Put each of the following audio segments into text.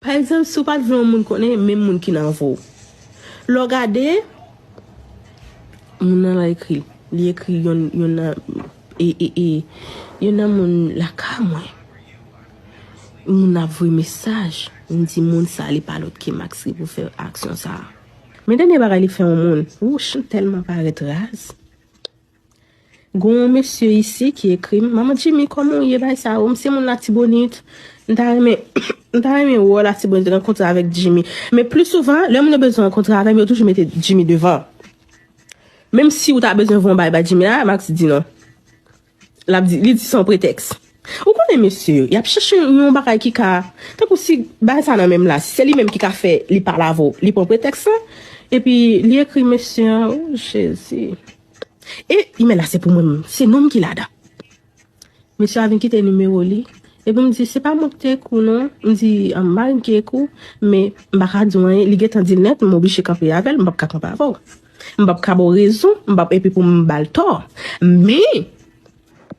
Pa egzanp, si w pa t vle yon moun konnen menm moun ki nan vo. Lè w gade, moun nan la ekri, li ekri yon nan, e, e, e, yon nan moun lakay mwen. Moun nan ap voye mesaj, m di moun sa li pa lòt ke Max ki pou fè aksyon sa a. Men dènye bagay li fè yon moun, wouch m tèlman parèt raz. Gonw mesye isi ki ekrim. Manman Jimmy koman ou ye bay sa ou m se moun latibonit m ta renmen m ta renmen wè w latibonit rankontre avèk Jimmy men pli souvan lè moun yo bezwen rankontre avèm yo toujou mete Jimmy devan menm si ou ta bezwen voun bay bay Jimmy la Max di non lap di li di son pretèks ou konnen mesye yo yap chèche yon bagay ki ka tankou si bay sa nan menm la si se li menm ki ka fè li pa lave w li pran pretèks lan epi li ekri mesye an oh jezi. E imel la se pou mwen menm. Se nonm ki ladan. Mesye a vin kite nimewo li. E pou m di, se pa mwen ki te ekri w non. M di, mari m ki ekri w. Men, m pa ka di w anyen. Li gen tan di l nèt, m oblije kanpe avè l. M pap ka kanpe avè w. M pap ka ba w rezon. M pap epi pou m ba l tò. Men!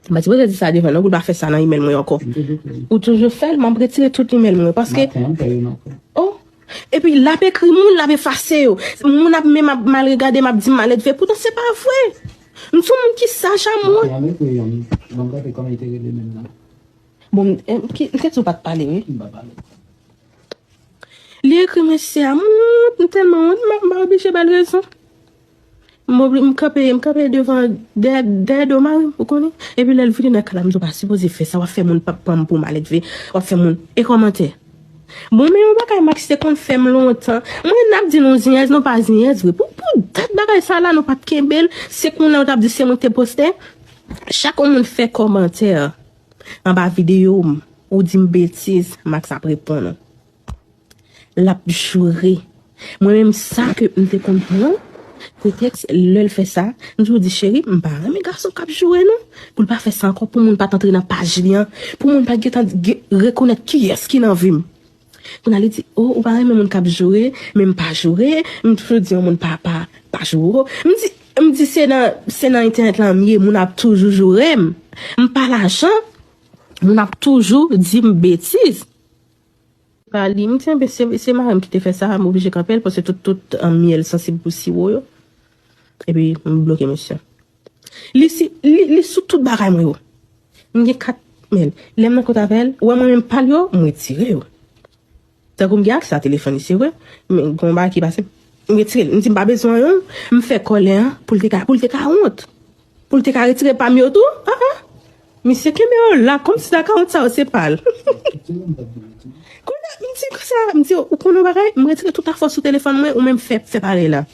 M pa sipoze di sa devan non pou l pa fè sa nan imèl mwen ankò. Ou toujou fè l? M ap retire tout imèl mwen paske. O! Epi l ap ekri moun, l ap efase yo. Moun ap menm ap mal regade m ap di m maledve. Poutan se pa vre! M se yon moun ki saj a mwen. Bon, m te di ou pa t pale wi. Li ekri mwen se Amour. M tèlman wont m oblije ba l rezon. M obli, m kanpe, m kanpe devan, dèyè, dèyè do mari m, ou konnen. Epi lè l vire nan kay la, m di w pa sipoze fè sa, w ap fè moun pa pran m pou malèdve, w ap fè moun. E kòmantè. Bon, men yon bagay Max te konn fè m lontan. Mwen, n ap di nou zenyèz, nou pa zenyèz vre. Pou, pou dat bagay sa la, nou pa t kenbe l. Se kounye a ou t ap di se mwen ki te postè. Chak yon moun fè kòmantè anba videyo m, ou di m betiz, Max ap reponn ou. Lap joure Mwen menm sa ke m te konn pran pretèks lèl fè sa m toujou di cheri m pa renmen gason kap joure non pou l pa fè sa ankò pou moun pat antre nan paj li an pou moun pat gentan rekonèt kiyès ki nan vi m kounya li di oh ou pa renmen moun kap joure men m pa joure m toujou di yon moun pa pa pa joure m di m di se nan se nan entènèt lan m ye moun ap toujou joure m m pa lajan moun ap toujou di m betiz. Pa li m kenbe se marim ki te fè sa m oblije kanpe l paske tout tout myèl sansib pou siwo yo epi m bloke mesye li si li sou tout bagay mwen yo m gen 4 myèl lè m nan kont avè l wè mwen menm pa l yo m retire yo tankou m gen aksè a telefòn li se vre men gon bagay ki pase m retire l m di m pa bezwen l m fè kòlè an pou l te ka wont. Poul te ka retire pam yo tou ah ah misye kenbe yo la komsi akawont sa yo se pal Konya m di konsa m di ou konn yon bagay m retire tout afo sou telefòn mwen ou menm fè fè parèy la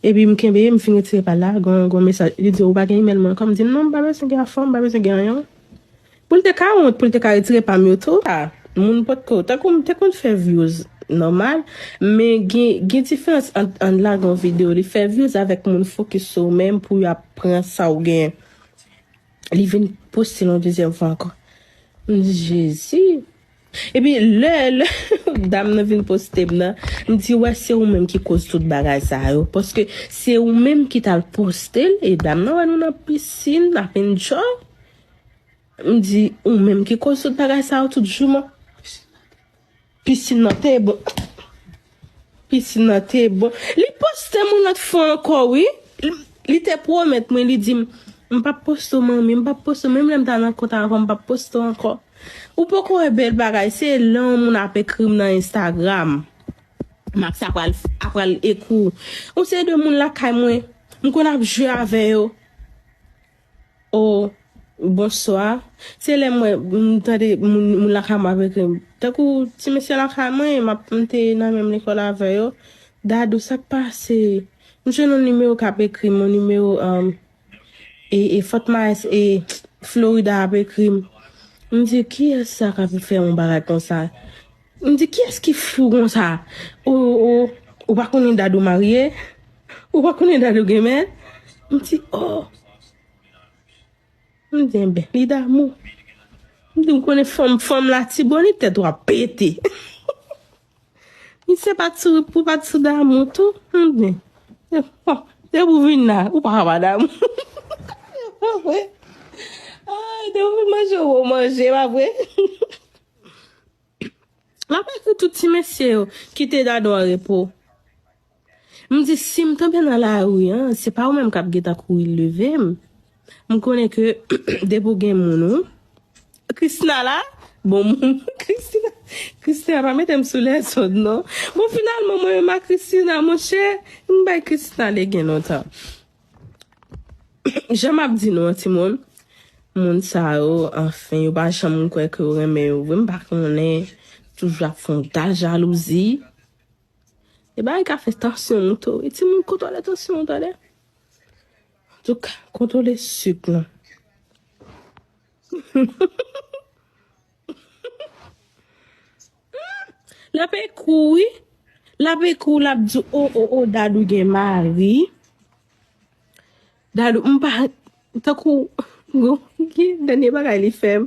epi m kenbe m fin retire pal la gon gon mesaj li di ou pa gen email mwen ankò m di non m pa bezwen gen afom m pa bezwen gen anyen. Pou l te ka wont pou l te ka retire pam yo tou. Sa moun potko, tankou m te konn fè vyouz nòmal, men gen gen diferans ant an lage yon video li fè vyouz avèk moun fokis sou ou menm pou yo ap pran sa ou gen li vin poste l yon dezyèm fwa ankò. M di Jezi. Epi lè lè dam nan vin poste m nan, m di wè se ou menm ki koz tout bagay sa yo paske se ou menm ki t al poste l e dam nan wè nou nan pisin ap enjoy M di ou menm ki koz tout bagay sa yo tout jouman Piscine nan te bon Piscine nan te bon Li postem yon lot fwa anko wi Li te promet mwen li dim M pap poste w manmi m pap poste w menm lèm ta nan kont avan m pap poste w anko Ou poko wè bel bagay se lè yon moun ap ekrim nan Instagram Max ap pral ap pral ekri w Yon seri de moun lakay mwen M konn ap jwe avè yo. Oh bonswa se lè mwen m tande moun lakay mwen ap ekri m tankou ti mesye lakay mwen map m te nan menm lekòl avè yo dadou sak pase m jwenn yon nimewo kap ekrim yon nimewo e fort myers e florida ap ekrim m di kiyès sa kap fè yon bagay konsa. M di kiyès ki fou konsa oo ou pa konnen Dadou marye ou pa konnen Dadou gen mèt m di oo m di enben li damou m di ou konnen fanm fanm latibonit tèt ou ap pete misye pat sou ou pat sou damou tou m di bon depi ou vin la ou paka pa damou se pa vre depi ou vin manje ou manje se pa vre. M ap ekri tout ti mesye yo kite Dadou an repo. M di si m tonbe nan lari an, se pa ou menm k ap gen tan kouri leve m. M konnen ke depi ou gen moun ou. Kristina la? Bon moun Kristina. Kristina pa mete m sou lèzòd non. Bon finalman mwen menm ak Kristina monchè, m bay Kristina legen lontan. Jan map di nou an ti moun, moun sa yo anfen yo pa janm kwè ke yo renmen yo vre m pa konnen toujou ap fon dal jalouzi. E bagay ka fè tansyon moute wi ti moun kontwole tansyon ou tande. Antouk kontwole suk lan. Lap ekou wi Lap ekou lap di o o o dadou gen mari dadou m pa tankou ki dènye bagay li fèm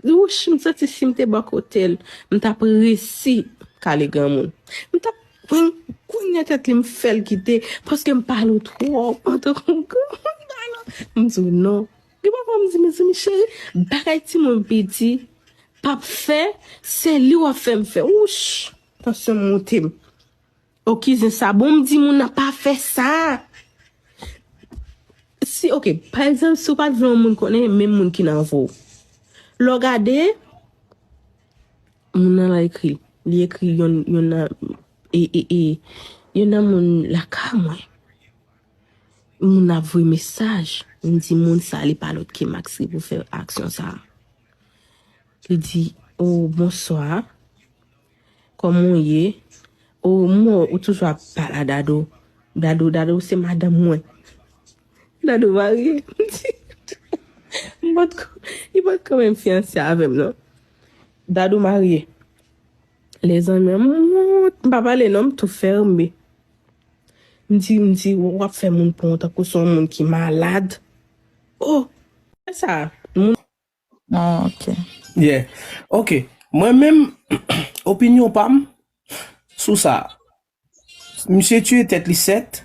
wouch m santi si m te bò kote l m tap resi kale granmoun m tap pran kout nan tèt li m fèl kite paske m pale w twòp tankou granmoun m di w non Gen pa fwa m di mezanmi cheri bagay timoun piti pap fè se li wap fè m fè wouch tansyon m moute m ok zen sa bon m di moun nan pa fè sa si ok pa egzanp si w pat vle yon moun konnen menm moun ki nan vo lè w gade moun nan la ekri li ekri yon nan e e e yon nan moun lakay mwen. Moun ap voye mesaj, moun di moun sa li pa lòt ke Maxi pou fè aksyon sa. Li di, o oh, bonswa, kòman ou ye? O oh, mwen ou toujou ap pala dado, dado, dado se madan mwen. Dado marye, mwen di, mwen bat kò, mwen bat kò mwen fiyanse avèm non. Dado marye. Le zanmi an mout. M pa pale non m tou ferme. M di m di w ap fè moun pran w tankou son moun ki malad. Oh! Fè sa moun. Oh ok. Yeah. Ok. Mwen menm opinyon pa m sou sa. Misye tuye tèt li sèt,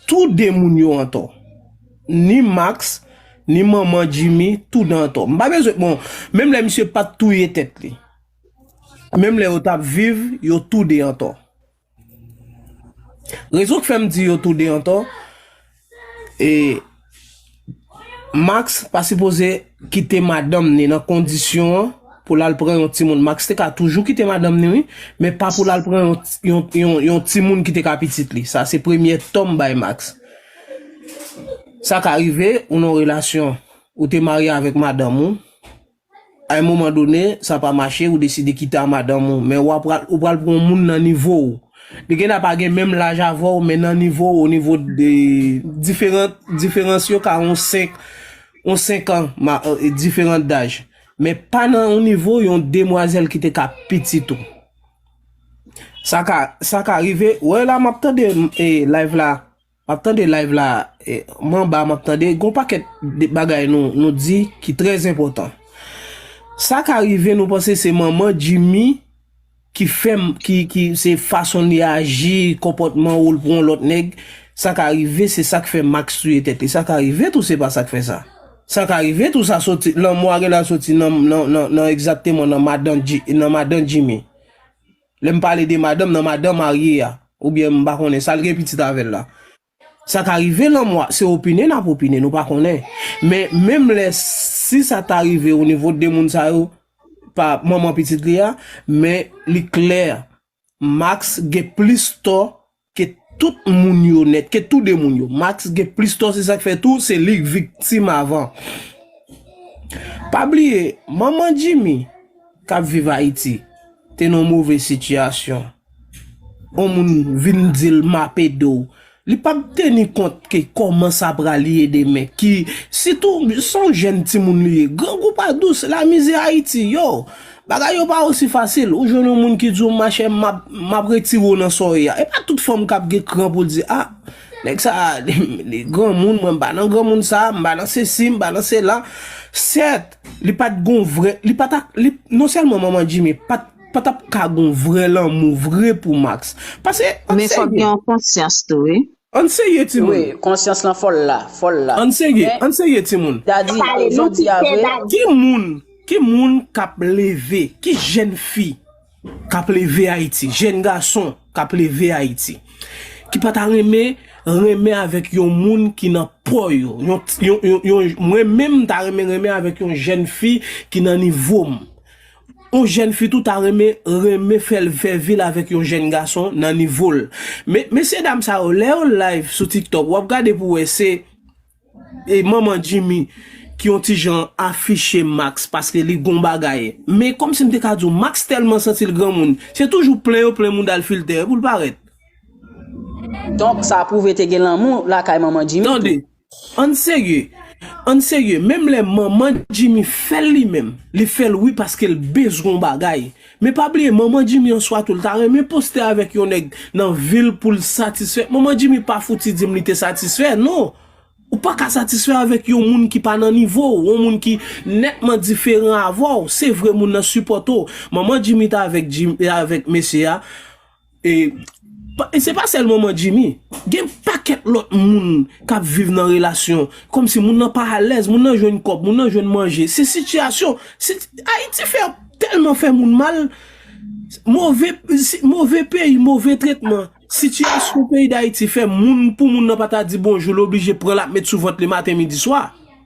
tou 2 moun yo antò. Ni Max, ni manman Jimmy, tou 2 antò. M pa bezwen, bon, menm lè misye pat touye tèt li, menm lè yo tap viv, yo tou 2 antò. Rezon k fèm di yo tou 2 antò, E Max pa sipoze kite madanm ni nan kondisyon an pou lal pran yon timoun. Max te ka toujou kite madanm ni wi, men pa pou lal pran yon timoun ki te ka pitit li. Sa se premye tò m bay Max. Sa ka rive ou nan yon relasyon, ou te marye avèk madanm ou. A un moment donné, sa pa mache, ou deside kite a madanm ou, men ou apral, ou pral pran yon moun nan nivo w. Li gen a pa gen menm laj avè w, men nan nivo w, au niveau de, diferan, diferans yo ka yon 5, yon 5 ans, ma, diferan daj. Men pa nan yon nivo yon demwazèl ki te ka pitit ou. Sa ka, sa ka rive, wè la map tande, e, live la. Map tande live la manba map tande gon pakèt bagay nou di ki trè enpòtan sa ka rive nou panse se manman Jimmy ki fèm ki se fason li aji konpòtman oul pou yon lòt nèg sa ka rive se sak fè Max touye tèt li sa ka rive tou se pa sak fè sa sa ka rive tou sa soti lanmò a genlè al soti nan nan nan egzakteman nan madan Jimmy. Lè m pale de madanm nan, madan marye a, oubyen m pa konnen sa l gen pitit avè l la. Sa ka rive lanmò a, se opine n ap opine, nou pa konnen. Men, menm lè si sa ta rive o nivo de moun sa yo, pa manman pitit li a, men li klè Max gen plis tò Ke tout moun yo nèt, ke tou de moun yo. Max gen plis tò se sak fè tou se lik viktim avan. Pa bliye manman Jimmy kap viv Ayiti te nan move sitiyasyon. On moun vin dil map ede w. Li pap teni kont ke kòman sa pral ye demen. Ki sitou son jèn timoun li ye. Grangou pa dous, la mizè Ayiti yo. Bagay yo pa osi fasil, ou jwenn yon moun ki di w machè map map retire w nan sa w ye a. E pa tout fanm kap gen kran pou l di a, nèg sa a li granmoun, mwen m pa nan granmoun sa, m pa nan sesi, m pa nan sela. Sèt, li pat gon vrè, li pa ta, li, non sèlman manman Djimi pat, pa tap ka gon vrè lanmou vre pou Max. Pase, an serye. Men fòk gen yon konsyans tou wi. Ann serye timoun. Wi, konsyans lan fòl la, fòl la. Ann serye, ann serye timoun. Dadi, jodi a vre. Ki moun, ki moun k ap leve, ki jenn fi k ap leve Ayiti, jenn gason k ap leve Ayiti, ki pa ta renmen renmen avèk yon moun ki nan po yo, yon, yon, yon, yon, mwen menm m ta renmen renmen avèk yon jenn fi ki nan nivo m. Yon jèn fi tou ta renmen renmen fèl fè vil avèk yon jèn gason nan nivol men mesye dam sa yo lè yo live sou tiktok wap gade pou wè se manman Jimmy ki yon ti jan afiche Max paske li gon bagay men kòmsi m te ka diw Max tèlman santil granmoun se toujou plen yo plen moudal filtè poul parèt. Donk sa pwouve te gen lanmou lakay manman Jimmy tou. Ann serye Ann serye menm lè manman Jimmy fèl li menm li fèl wi paskel bezwen yon bagay men pa bliye manman Jimmy yon swa tou li ta renmen poste avèk yon nèg nan vil poul satisfè manman Jimmy pa fouti dim li te satisfè non ou paka satisfè avèk yon moun ki pa nan nivow yon moun ki nètman diferan avèw se vre moun nan sipòte w manman Jimmy ta avèk mesye a E se pa sèlman mwen Jimmy, gen pakèt lòt moun kap viv nan relasyon, kòm si moun nan pa alèz, moun nan jwenn kòb, moun nan jwenn manje, se sitiyasyon, ayiti fè tèlman fè moun mal, move, move peyi, move tretman, sitiyasyon peyi dayiti fè moun pou moun nan pa ta di bonjou l oblije pran l ap met sou vant li maten midi swa.